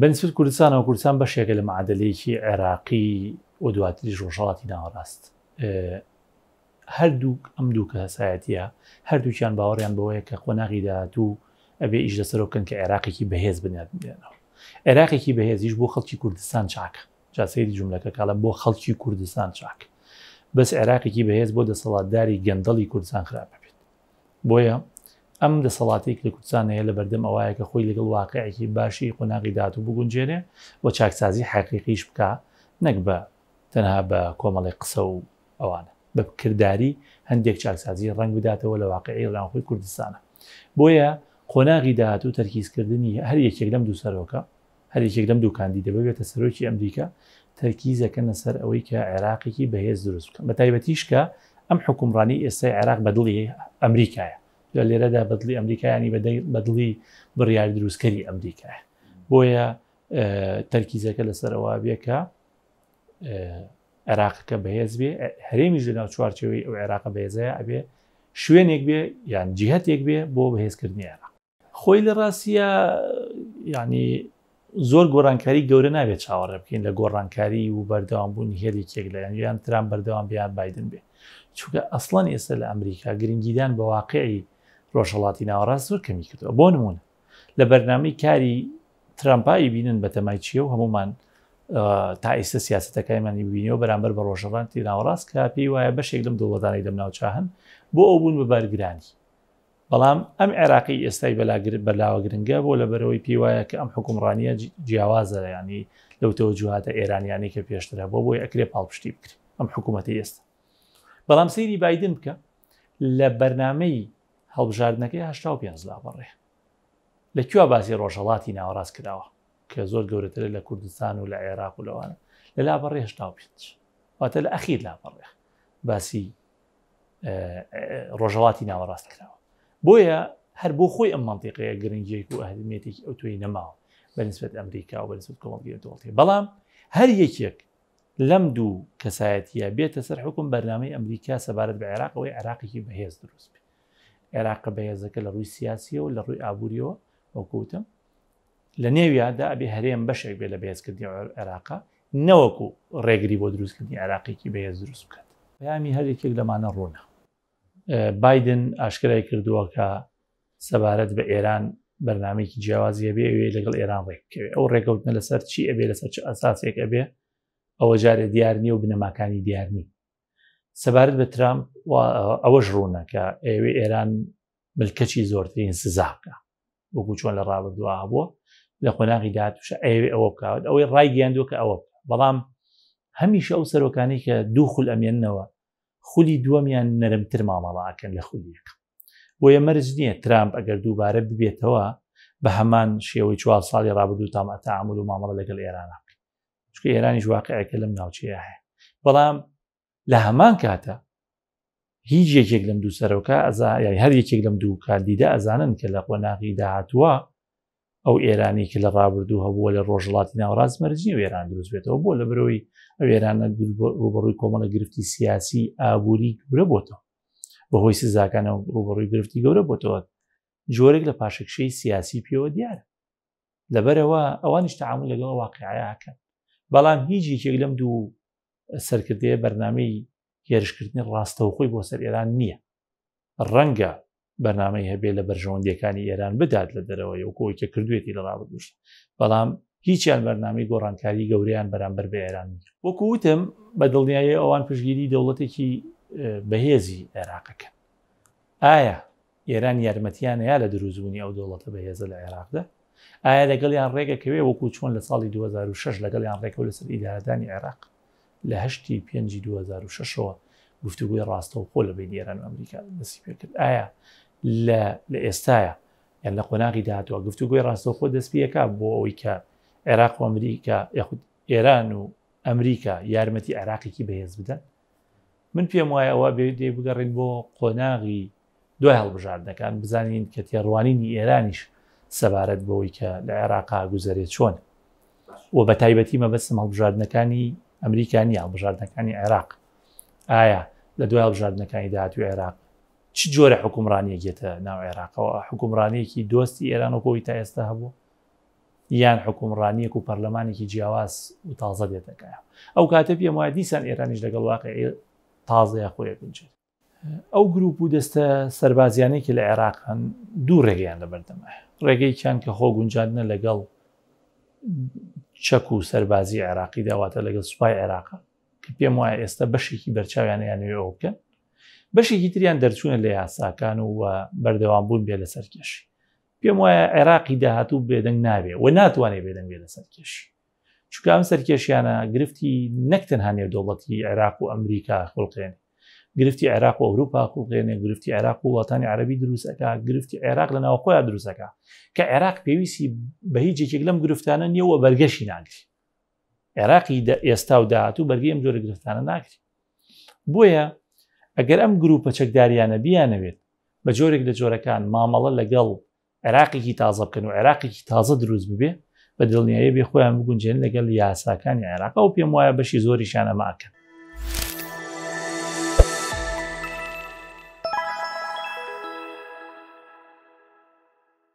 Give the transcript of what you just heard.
بنسبەت کوردستانەوە، کوردستان بەشێکە لە معادەلەیەکی عێراقی و دواتریش ڕۆژهەڵاتی ناوەڕاست. هەردوو ئەم دوو کەسایەتە هەردووکیان باوەڕیان بەوەیە کە قۆناغی داهاتوو ئەبێ ئیش لەسەر بکەن کە عێراقێکی بەهێز بنیاد بێنەوە عێراقێکی بەهێزیش بۆ خەڵکی کوردستان چاکە جاسەیری جملەکە کاڵە بۆ خەڵکی کوردستان چاک بەس عێراقێکی بەهێز بۆ دەسەڵاتداری گەندەڵی کوردستان خراپە بۆیە ئەم دەسەڵاتەی کە لە کوردستان هەیە لە بەردەم ئەوەیە کە خۆی لەگەڵ واقعێکی باشی قۆناغی داهاتوو بگونجێنێ و چاکسازی حەقیقیش بکا نەک بە تەنها بە کۆمەڵێک قسە و ئەوانە بە کرداری هەندێک چاکسازی ڕەنگ بداتەوە لە واقعی ڕاوخۆی کوردستانە بۆیە قۆناغی داهاتوو تەرکیزکردنی هەر یەکێک لەم دوو سەرۆکە هەر یەکێک لەم دوو کاندیدە ببێتە سەرۆکی ئەمریکا، تەرکیز ئەکەنە سەر ئەوەی کە عێراقێکی بەهێز دروست بکەن، بەتایبەتیش کە ئەم حکومڕانیی ئێستای عێراق بە دڵی ئەمریکایە. جا لێرەدا بە دڵی ئەمریکا یانی بە دڵی بڕیار دروستکەری ئەمریکایە. بۆیە تەرکیزەکە لەسەر ئەوە بێ کە عێراقەکە بەهێز بێ، هەرێمیش لەناو چوارچەوەی ئەو عێراقە بەهێزەیە ئەبێ شوێنێک بێ یان جیهەتێک بێ بۆ بەهێزکردنی عێراق. خۆی لە ڕاستە یعنی زۆر گۆڕانکاری گەورە نابێت چاوەڕێ بکەین لە گۆڕانکاری و بەردەوام بوون هێلێکێک لە یان تران بەردەوام بیان بادن بێ چونکە ئەسڵان ئێستا لە ئەمریکا گرنگیدان بە واقعی ڕۆژهڵاتی ناوەڕاست زۆر کەمی کردەوە بۆ نمونە لە بەرنامەی کاری ترامپایی بینن بە تەمای چیە و هەمومان تا ئێستا سیاستەکەیمانی بینەوە بەرامبەر بە ڕۆژەڕانتی ناوەڕاست کە پێی وایە بەشێک لەم دەوڵەتانی لەم ناوچاهن بۆ ئەو بوون بە بارگرانی بەڵام ئەم عێراقی ئێستای بەلاگر بەلاوە گرنگە بۆ لەبەرەوەی پێی وایە کە ئەم حکومڕانیە جیاوازە ینی لەو تەوەجوهاتە ئێرانیانی کە پێشتر هەبوو بۆی ئەکرێ پاڵپشتی بکرێ ئەم حکوومەتی ئێستا بەڵام سەیری بادن بکە لە بەرنمەی هەڵبژاردنەکەی هشتا پێ لا بەڕێ لە کوێ باسی ڕۆژهڵاتی ناوەڕاست کراوە کە زۆر گەورەتر لە کوردستان و لە عێراق و لەوانە لە لا بەڕێ هشتا پێ واتە لە ئەخیر لا بەڕێ باسی ڕۆژهڵاتی ناوەڕاست کراوە بۆیە هەر بۆ خۆی ئەم منتیقەیە گرنگیەک و ئەهمیێتێکی ئەو توی نەماوە بەنسبت ئەمریکا و بەنسبت کۆڵگەێتوڵی بەڵام هەر یەکێک لەم دوو کەسایەتە بێتە سەر حکوم بەرنامەی ئەمریکا سەبارەت بە عێراقەوەی عراقیی بەهێز دروست بێ عێراق بەهێزەکە لە ڕووی سیاسیەوە لە ڕووی ئابوووریەوە وەکوتم لە نێویا دا ئەبێ هەرێم بەشێک بێ لە بەهێزکردنی عێراقا نەوەکو ڕێگری بۆ دروستکردنی عێراقێکی بەهێز دروست بکات. پەیامی هەر یەکێک لەمانە ڕوونە. بایدن ئاشکرای کردووە کە سەبارەت بە ئێران بەرنمێکی جیاوازی هەبێ ئەوێ لەگەڵ ئێران ڕێککەوێ ئەو ڕێکەوتنە لەسەر چی ئەبێ لەسەر چ ئەساسێک ئەبێ ئەوە جارێ دیار نیە و بنەماکانی دیارنی سەبارەت بە ترامپ ئەوەش ڕوونە کە ئێوێ ئێران ملکەچی زۆرترین سزا بکە وەکو چۆن لە ڕابردووا بووە لە قۆناغی داهاتوش ئەوێ ئەوە بکات ئەوەی ڕای گەیاندووە کە ئەوە بەڵام هەمیشە ئەو سەرۆکانی کە دوو خول ئەمێنەوە خولی دووەمیان نەرمتر مامەڵاکەن لە خولیەکە بۆیە مەرج نییە ترامپ ئەگەر دووبارە ببێتەوە بە هەمان شێوەی چوار ساڵی ڕابردوو تامەتە ئامل و مامەڵە لەگەڵ ئێرانە چکە ئێرانیش واقعەکە لەم ناوچەیە هەیە بەڵام لە هەمان کاتە هیچ یەکێک لەم دوو سەرۆکە ئەزا یای هەر یەکێک لەم دوو کاندیدە ئەزانن کە لە قۆناغی داهاتووە ئەو ئێرانی کە لە ڕابردوو هەبووە لە ڕۆژڵاتی ناوڕاست مەرجی وێران دروست بێتەوە بۆ لە برەوەی ئەو ئێرانە ڕوبڕووی کۆمەڵە گرفتی سیاسی ئابووری گورە بۆتەوە بەهۆی سزاکانە ڕوبڕووی گرفتی گەورە بۆتەوە جۆرێک لە پاشەکشەی سیاسی پێوە دیارە لەبەرەوە ئەوانیش تعامل لەگەڵ واقعیاکەن بەڵام هیچ یەکێک لەم دوو سەرکردەیە بەرنمەی هێرشکردنی ڕاستەوخۆی بۆ سەر ئێران نییە ڕەنگە بەنامەی هەبێ لە بەرژەوەندەکانی ئێران بدات لە دەرەوە یوکۆیکە کردوێتی لە ڕابگوشت بەڵام هیچیان بەرنامی گۆڕانکاری گەوریان بەرامبەر بە ئێران وەکووتم بە دڵنیایی ئەوان پشگیری دەوڵەتێکی بەهێزی عێراقەکەن ئایا ئێران یارمەتیان نەیا لە دروستبوونی ئەو دەوڵەتە بەهێزە لە عێراقدا؟ ئایا لەگەڵیان ڕێگەکەوێ وەکوو چۆن لە ساڵی دوو هەزار و شەش لەگەڵیان ڕێکەوت لەسەر ئیدارەدانی عێراق لە هەشتی پێنجی دوو هەزار و شەش ەوە گفتوگۆی ڕاستەوخۆ لە بین ئێران و ئەمریکا دەستی پێ کرد ئایا لە لە ئێستاە یان لە قۆناغی داهاتوە گفتوگۆی ڕاستەوخۆ دەست پێەکە بۆ ئەوەی کە عێراق و ئەمریکا یاخود ئێران و ئەمریکا یارمەتی عێراقێکی بەهێز بدەن من پێم وایە ئەوە بێ دێ بگەڕین بۆ قۆناغی دوای هەڵبژاردنەکان بزانین کە تێڕوانینی ئێرانیش سەبارەت بەوەی کە لە عێراقا گوزارێت چۆن و بە تایبەتی مەبەستم هەڵبژاردنەکانی ئەمریکانی هەڵبژاردنەکانی عێراق ئایا لە دوای هەڵبژاردنەکانی داهاتوی عێراق چ جۆرە حکومڕانیەکێتە ناو عێراقەوە حکومڕانەیەکی دۆستی ئێران و کۆی تا ئێستا هەبوو یان حکومڕانیەک و پەرلەمانێکی جیاواز و تازە دێتەکایە ئەو کاتە پێم وایە دیسان ئێرانیش لەگەڵ واقعی تازەیە خۆیە بنجێت ئەو گروپ و دەستە سربازیانەی کە لە عێراق هەن دوو ڕێگەیان لە بەردەمە ڕێگەیکیان کە خۆ گونجاندنە لەگەڵ چەک و سەربازی عێراقی داواتە لەگەڵ سوپای عێراقە کە پێم وایە ئێستا بەشێکی بەرچاویانیان نوێ ئەو بکەن بەشێکی تریان دەرچوونە لە یاساکان و بەردەوام بوون بێ لەسەر کێشی پێم وایە عێراقی داهاتوو بێدەنگ نابێ و ناتوانێت بێدەنگ بێ لە سەرکێشی چکام سەرکێشیانە گرفتی نەک تەنها نێو دەوڵەتی عێراق و ئەمریکا خڵقێن گرفتی عێراق و ئەوروپا خڵقێنێ گرفتی عێراق و وڵاتانی عربی دروستەکە گرفتی عێراق لە ناوخۆیان دروستەکە کە عێراق پێویستی بە هیچ یەکێک لەم گرفتانە نییە و بەرگەشی ناگری عێراقی ئێستا و داهاتوو بەرگی ئەم جۆرە گرفتانە ناکرێت بۆیە ئەگەر ئەم گروپە چەکداریانە بیانەوێت بە جۆرێک لە جۆرەکان مامەڵە لەگەڵ عێراقێکی تازە بکەن و عێراقێکی تازە دروست ببێ بە دڵنیایە بێ خۆیان بگونجێن لەگەڵ یاساکانی عێراق و پێم وایە بەشی زۆریشان ئەماکەن